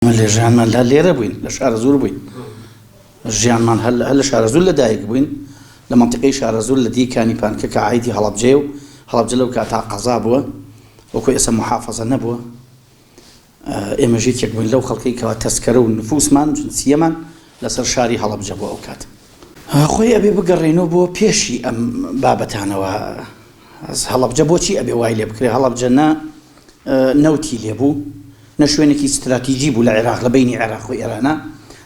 ئێمە لە ژیانمان هەر لێرە بووین لە شارەزوور بووین ژیانمان هەر لە شارەزوور لەدایک بووین لە مەنتیقەی شارەزوور لە دی کانی پانکە کە عایدی هەڵەبجەیە و هەڵەبجە لەو کاتە قەزا بووە وەکو ئێستا محافەزە نەبووە ئێمە ژێکێک بووین لەو خەڵکەی کەوا تەسکەرە و نفوسمان جنسیەمان لەسەر شاری هەڵەبجە بۆ ئەو کات خۆی ئەبێ بگەڕێنەوە بۆ پێشی ئەم بابەتانەوە هەڵەبجە بۆچی ئەبێ وای لێ بکرێ هەڵەبجە نە نەوتی لێبوو، نە شوێنێکی ستراتیجی بوو لە عێراق لە بەینی عێراق و ئێرانا،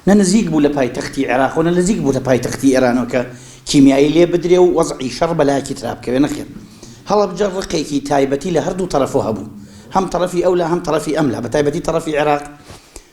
نە نزیک بوو لە پایتەختی عێراق و نە لزیک بوو لە پایتەختی ئێرانەوە کە کیمیایی لێ بدرێ و وەزعی شەڕ بە لایەکی ترا بکەوێ، نەخێر هەڵەبجە ڕقێکی تایبەتی لە هەردوو تەرەفۆ هەبوو، هەم تەرەفی ئەولا هەم تەرەفی ئەملا، بە تایبەتی تەرەفی عێراق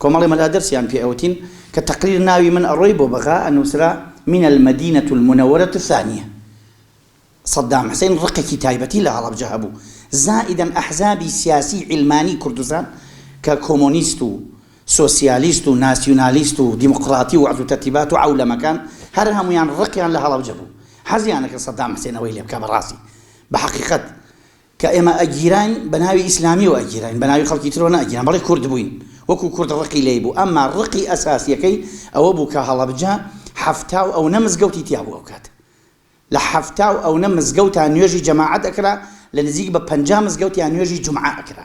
کۆمەڵی مەلا دەرسیان پێ ئەوتین کە تەقریر ناوی من ئەڕۆی بۆ بەغا ئەنوسرا من المدینە المنورە الثانیە صدام حسین ڕقێکی تایبەتی لە هەڵەبجە هەبوو زائیدەن ئەحزابی سیاسی عیلمانی کوردستان کە کۆمۆنیست و سۆسیالیست و ناسیونالیست و دیموقراتی و وەعز و تەرتیبات و عەولەمەکان هەر هەموویان ڕقیان لە هەڵەبجە بوو حەزیان نەکرد صدام حسین ئەوەی لێ بکا بەڕاستی بە حەقیقەت کە ئێمە ئەگیراین بە ناوی ئیسلامیەوە ئەگیراین بە ناوی خەڵکی ترەوە نەئەگیراین بەڵی کورد بووین وەکو کورد ڕقی لێی بوو ئەمما ڕقی ئەساسیەکەی ئەوە بوو کە هەڵەبجە حەفتا و ئەونە مزگەوتی تیا بوو ئەوکات لە حەفتا و ئەونە مزگەوتا نوێژی جەماعەت ئەکرا لە نزیک بە پەنجا مزگەوتیا نوێژی جومعە ئەکرا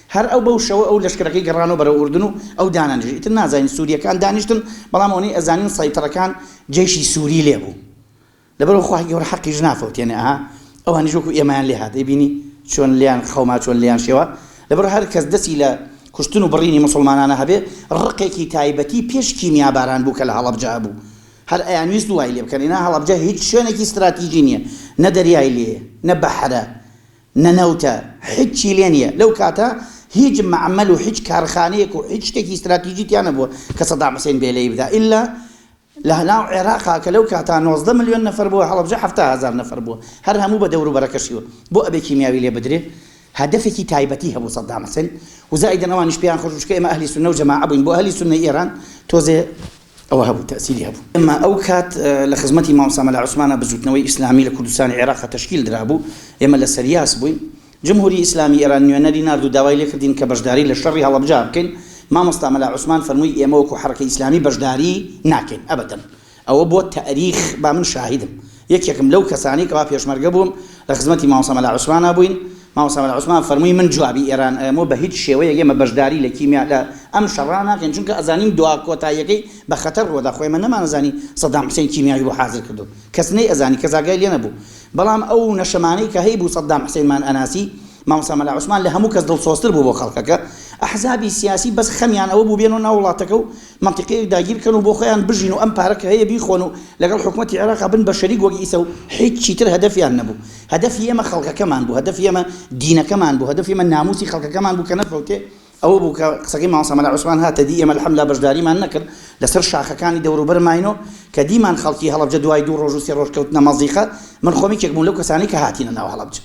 هەر ئەو بەو شەوە ئەو لەشکرەکەی گەڕانەوە بەرەو ئوردن و ئەو دانەنیشت ئیتر نازانین سوریەکان دانیشتن بەڵام ئەونەی ئەزانین سەیتەڕەکان جەیشی سوری لێ بوو لەبەرو خوای گەورە حەقیش نافەوتێنێ ئەها ئەوانیش وەکو ئێمەیان لێ هات ئەیبینی چۆن لێیان خەوما چۆن لێیان شێوا لەبەر هەر کەس دەسی لە کوشتن و بڕینی موسڵمانانە هەبێ ڕقێکی تایبەتی پێش کیمیا باران بوو کە لە هەڵەبجە هەبوو هەر ئەیانویست وای لێ بکەن ئینا هەڵەبجە هیچ شوێنێکی ستراتیژی نیە نە دەریای لێیە نە بەحرە نەنەوتە، هیچی لێ نییە، لەو کاتە هیچ مەعمەل و هیچ کارخانەیەک و هیچ شتێکی ستراتیجی تیا نەبووە کە سەدام حسێن بێلەی بدا ئیلا لە ناو عێراقا کە لەو کاتا نۆزدە ملیۆن نەفەر بووە هەڵەبجە حەفتا هەزار نەفەر بووە هەر هەموو بە دەور و بەرەکەشی و بۆ ئەبێ کیمیاوی لێ بدرێ هەدەفێکی تایبەتی هەبوو سەدام حسێن و زائیدەن ئەوانیش پێیان خۆش بوو چونکە ئێمە ئەهلی سوننە و جەماعە بووین بۆ ئەهلی سوننەی ئێران تۆزێ ئەوە هەبوو تەئسیری هەبوو ئەمما ئەو کات لە خزمەتی مامۆستا مەلا عوسمانە بزووتنەوەی ئیسلامی لە کوردستانی عێراقا تەشکیل درابوو ئێمە لە سەریاس بووین جمهوری ئیسلامی ئێران نوێنەری نارد و داوای لێ کردین کە بەشداری لە شەڕی هەڵەبجە بکەین مامۆستا مەلا عوسمان فەرمووی ئێمە وەکوو حەڕەکەی ئیسلامی بەشداری ناکەین ئەبەدەن ئەوە بۆ تەئریخ با من شاهیدم یەکێکم لەو کەسانەی کەوا پێشمەرگە بووم لە خزمەتی مامۆستا مەلا عوسمانا بووین، مامۆستا مەلا عوسمان فەرمووی من جوابی ئێران ئەیەم و بە هیچ شێوەیەک ئێمە بەشداری لە کیمیا لە ئەم شەڕا ناکەین چونکە ئەزانین دوا کۆتاییەکەی بە خەتەر ڕووەدا خۆ ئێمە نەمانەزانی سەدام حسێن کیمیاوی بۆ حازر کردوون کەس نەیئەزانی کەس ئاگای لێ نەبوو بەڵام ئەو نەشەمانەی کە هەیبوو سەدام حسێنمان ئەناسی مامۆستا مەلا عوسمان لە هەموو کەس دڵسۆزتر بوو بۆ خەڵکەکە، ئەحزابی سیاسی بەس خەمیان ئەوە بوو بێنەوە ناو وڵاتەکە و مەنتیقەیەک داگیر بکەن و بۆ خۆیان بژین و ئەم پارە کە هەیە بیخۆن و لەگەڵ حکومەتی عێراق بن بە شەریک وەک ئیسە و هیچ چیتر هەدەفیان نەبوو، هەدەفی ئێمە خەڵکەکەمان بوو، هەدەفی ئێمە دینەکەمان بوو، هەدەفی ئێمە ناموسی خەڵکەکەمان بوو کە نەفەوتێ، ئەوە بوو کە قسەکەی مامۆستا مەلا عوسمان هاتە دی، ئێمە الحمدللە بەشداریمان نەکرد لەسەر شاخەکانی دەوروبەر ماینۆ کە دیمان خەڵکی هەڵەبجە دوای دوو ڕۆژ و سێ ڕۆژ کەوتنە مەزیقە، من خۆم یەکێک بووم لەو کەسانەی کە هاتینە ناو هەڵەبجە.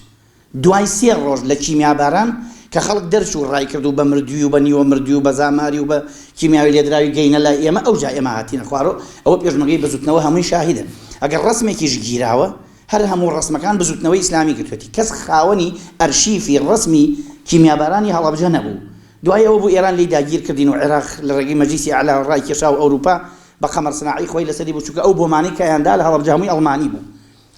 دوای سێ ڕۆژ لە کیمیاباران کە خەڵک دەرچوو ڕایکرد و بە مردووی و بە نیوە مردووی و بە زاماری و بە کیمیاوی لێدراوی گەینە لای ئێمە ئەوجا ئێمە هاتینە خوارۆ ئەوە پێشمەرگەی بزوتنەوە هەمووی شاهیدن ئەگەر ڕەسمێکیش گیراوە هەر هەموو ڕەسمەکان بزوتنەوەی ئیسلامی گرتوێتی کەس خاوەنی ئەرشیفی ڕەسمی کیمیابارانی هەڵەبجە نەبوو دوای ئەوە بوو ئێران لێی داگیر کردین و عێراق لە ڕێگەی مەجلیسی ئەعلا ڕایکێشا و ئەوروپا بە قەمەر سناعی خۆی لەسەری بوو چونکە ئەو بۆمانەی کایان دا لە هەڵەبجە هەمووی ئەڵمانی بوو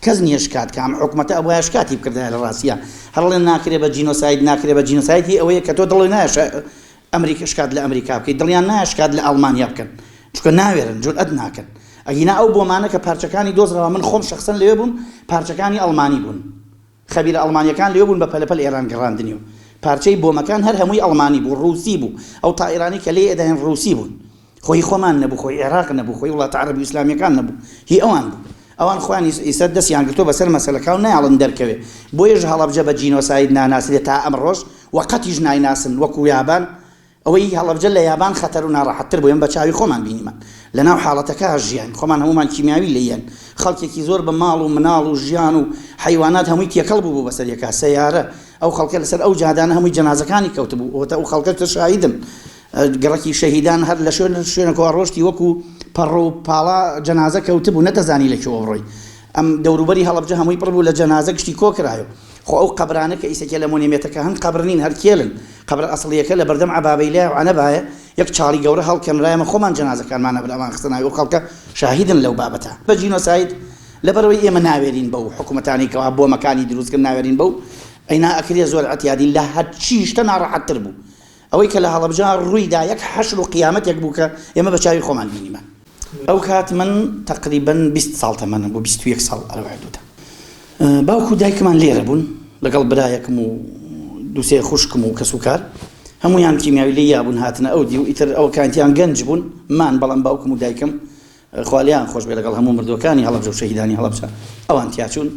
کەس نیە شکات کە ئەم حکومەتە ئەبوایە شکاتی بکردایە لە ڕاستیا هەر ئەڵێن ناکرێ بە جینۆساید ناکرێ بە جینۆساید هی ئەوەیە کە تۆ دڵی نایە ئەمریکا شکات لە ئەمریکا بکەیت دڵیان نایە شکات لە ئەڵمانیا بکەن چونکە ناوێرن جورئەت ناکەن ئەگینا ئەو بۆمانە کە پارچەکانی دۆزراوە من خۆم شەخسەن لەوێ بووم پارچەکانی ئەڵمانی بوون خەبیرە ئەڵمانیەکان لەوێ بوون بە پەلە پەل ئێران گەڕاندنی و پارچەی بۆمەکان هەر هەمووی ئەڵمانی بوو ڕووسی بوو ئەو تائیرانەی کە لێی ئەداین ڕووسی بوون خۆ هی خۆمان نەبوو خۆی ئێراق نەبوو خۆی وڵاتە عەرەبی و ئیسلامیەکان نەبوو هی ئەوان بوو ئەوان خۆیان ئیستا دەسیان گرتووە بەسەر مەسەلەکە و نایەڵن دەرکەوێ بۆیەش هەڵەبجە بە جینۆساید ناناسرێ تا ئەمڕۆش و قەتیش نایناسن وەکوو یابان ئەوەی هەڵەبجە لە یابان خەتەرو ناڕەحەت تر بوو ئێمە بە چاوی خۆمان بینیمان لە ناو حاڵەتەکە ژیاین خۆمان هەموومان کیمیاوی لێ یەن خەڵکێکی زۆر بە ماڵ و مناڵ و ژیان و حەیوانات هەمووی تێکەڵ بوو بوو بەسەر یەکا سەیارە ئەو خەڵکە لەسەر ئەو جادانە هەمووی جەنازەکانی کەوت بوو ئەوەتا ئەو خەڵکە کە شاهیدن گڕەکی شەهیدان هەر لە شوێن شوێنەکەوە ڕۆشتی وەکو پەڕ و پاڵا جەنازە کەوت بوو نەتەزانی لە کوێوە بڕۆی ئەم دەوروبەری هەڵەبجە هەمووی پڕ بوو لە جەنازە گشتی کۆکرایەوە. خۆ ئەو قەبرانە کە ئیسە کێلە مۆنێمێتەکە هەن قەبر نین هەر کێلن، قەبرە ئەسڵیەکە لە بەردەم عەبابەیلایە و عەنەبایە یەک چاڵی گەورە هەڵکەنرا ئێمە خۆمان جەنازەکانمان هەبرا ئەمان خستە ناوی ئەو خەڵکە شاهیدن لەو بابەتە بە جینۆساید لەبەرئەوەی ئێمە ناوێرین بەو حکومەتانەی کەوا بۆمەکانی دروست کرد ناوێرین بەو ئەینا ئەکرێ زۆر عەتیادین لە هەرچی شتە ناڕەحەت تر بوو ئەوەی کە لە هەڵەبجە ڕووی دا یەک حەشر و قیامەتێک بوو کە ئێمە بە چاوی خۆمان بینیمان. ئەو کات من تەقریبەن بیست ساڵ تەمەنم بوو، بیست و یەک ساڵ لەو حدوودە. باوک و دایکمان لێرە بوون، لەگەڵ برایەکم و دوو سێ خوشکم و کەسوکار. هەموویان کیمیاوی لێ یا بوون هاتنە ئەو دیو، ئیتر ئەوە کاتیان گەنج بوون، مان، بەڵام باوکم و دایکم خوا لێیان خۆش بێ لەگەڵ هەموو مردووەکانی هەڵەبجە و شەهیدانی هەڵەبجە ئەوان تیا چوون.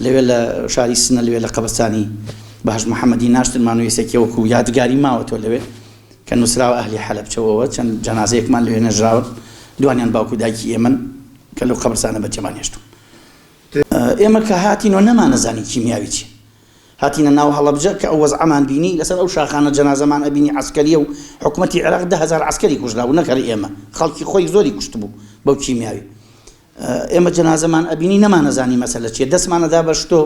لەوێ لە شاری سنە لەوێ لە قەبرستانی بەهەشت محەمەدی ناشتنمان و یسێکیە وەکوو یادگاری ماوەتەوە لەوێ. کە نوسراوە ئەهلی حەلەبچەوەوە چەند جەنازەیەکمان لەوێ نەژراون دوانیان باوک و دایکی ئێمەن کە لەو قەبرسانە بەجێمان هێشتون ئێمە کە هاتینەوە نەمانەزانی کیمیاوی چی هاتینە ناو هەڵەبجە کە ئەو وەزعەمان بینی لەسەر ئەو شاخانە جەنازەمان ئەبینی عسکەریە و حکومەتی عێراق دە هەزار عسکەری کوژرا بوو نەکەری ئێمە خەڵکی خۆی زۆری کوشت بوو بەو کیمیاوی ئێمە جەنازەمان ئەبینی نەمانەزانی مەسەلە چیە دەستمانەدا بە شتۆ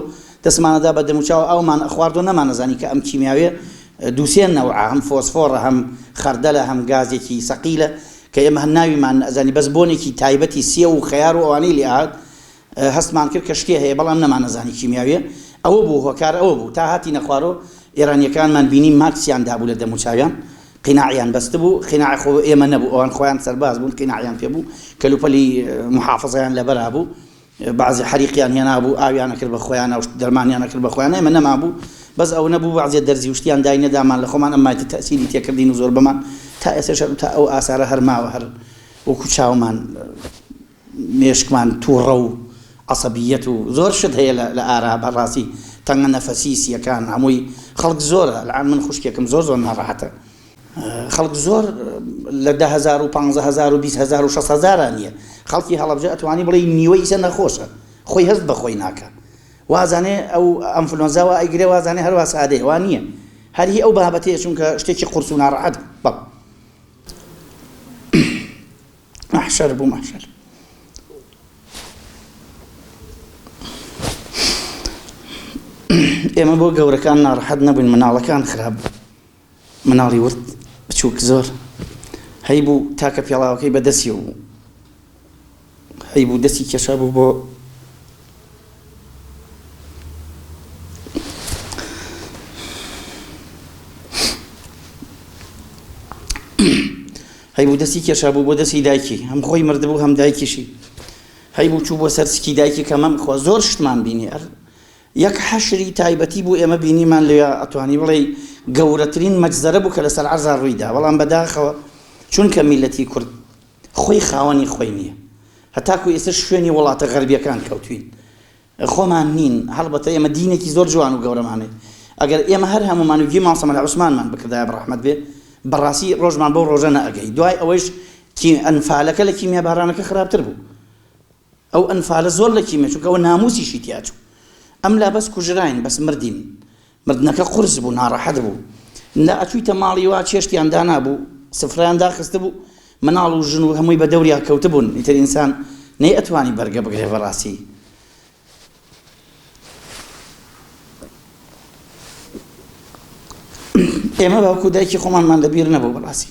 دەستمانەدا بە دەموچاو ئاومان ئەخواردو نەمانەزانی کە ئەم کیمیاویە دووسێ نەوعە هەم فۆسفۆڕە هەم خەردەلە هەم گازێکی سەقیلە کە ئێمە هەر ناویمان نەزانی بەس بۆنێکی تایبەتی سێو و خەیار و ئەوانەی لێ هات هەستمان کرد کە شتێ هەیە بەڵام نەمانەزانی کیمیاویە ئەوە بوو هۆکار ئەوە بوو تا هاتینە خوارەوە ئێرانیەکانمان بینی ماکسیان دابوو لە دەموچاویان قیناعیان بەستبوو، قیناع خۆ ئێمە نەبوو، ئەوان خۆیان سەرباز بوون، قیناعیان پێ بوو، کەلوپەلی موحافزەیان لەبەرا بوو، بەعزێ حەریقیان هێنا بوو، ئاویان ئەکرد بە خۆیانا و دەرمانیان ئەکرد بە خۆیانا، ئێمە نەمابوو، بەس ئەوە نەبوو بەعزێ دەرزی و شتیان دای نەدامان، لە خۆمان ئەم مایتە تەئسیری تێ کردین و زۆربەمان تا ئێستەش هەر تا ئەو ئاسارە هەر ماوە هەر وەکوو چاومان. مێشکمان توڕە و عەسەبیەت و زۆر شت هەیە لە ئارا بە ڕاستی تەنگە نەفەسی سیەکان هەمووی خەڵک زۆرە ئەلئان من خوشکێکم زۆر زۆر ناڕەحەتە خەڵک زۆر لە دە هەزار و پانزە هەزار و بیست هەزار و شەست هەزارا نیە خەڵکی هەڵەبجە ئەتوانی بڵێ نیوەی ئیسە نەخۆشە خۆی هەست بە خۆی ناکە وازانێ ئەو ئەنفلۆنزاوە ئەیگرێ وازانێ هەر وا سادەیە وا نییە هەر هی ئەو بابەتەیە چونکە شتێکی قورس و ناڕەحەت بەڵ مەحشەر بوو مەحشەر. ئێمە بۆ گەورەکان ناڕەحەت نەبووین مناڵەکان خراپ بوو مناڵی ورد بچووک زۆر هەی بوو تاکە پێڵاوەکەی بەدەستی بوو هەی بوو دەستی کێشا بوو بۆ هەیبوو دەستی کێشا بوو بۆ دەستی دایکی هەم خۆی مردبوو هەم دایکیشی هەیبوو چوو بۆ سەر سکی دایکی کە مەم خۆ زۆر شتمان بینی ئەر یەک حەشری تایبەتی بوو ئێمە بینیمان لێ ئەتوانی بڵێ گەورەترین مەجزەرە بوو کە لەسەر عەرزا ڕوویدا بەڵام بەداخەوە چونکە میلەتی کورد خۆی خاوەنی خۆی نیە هەتاکو ئێستا شوێنی وڵاتە غەربیەکان کەوتوین خۆمان نین هەڵبەتە ئێمە دینێکی زۆر جوان و گەورەمان هەیە ئەگەر ئێمە هەر هەمومان و گوێی مام سەمەد عوسمانمان بکردایە بەڕەحمەت بێ بەڕاستی ڕۆژمان بەو ڕۆژە نەئەگەی دوای ئەوەیش کی ئەنفالەکە لە کیمیابارانەکە خراپتر بوو ئەو ئەنفالە زۆر لە کیمە چونکە ئەوە ناموسیشی تیا چوو ئەم لا بەس کوژراین بەس مردین مردنەکە قورس بوو ناڕەحەت بوو لا ئەچویتە ماڵی وا چێشتیان دانابوو سفرەیان داخستبوو مناڵ و ژن و هەمووی بە دەوریا کەوتبوون ئیتر ئینسان نەی ئەتوانی بەرگە بگرێ بەڕاستی ئێمە باوکو دایکی خۆمانمان لەبیر نەبوو بەڕاستی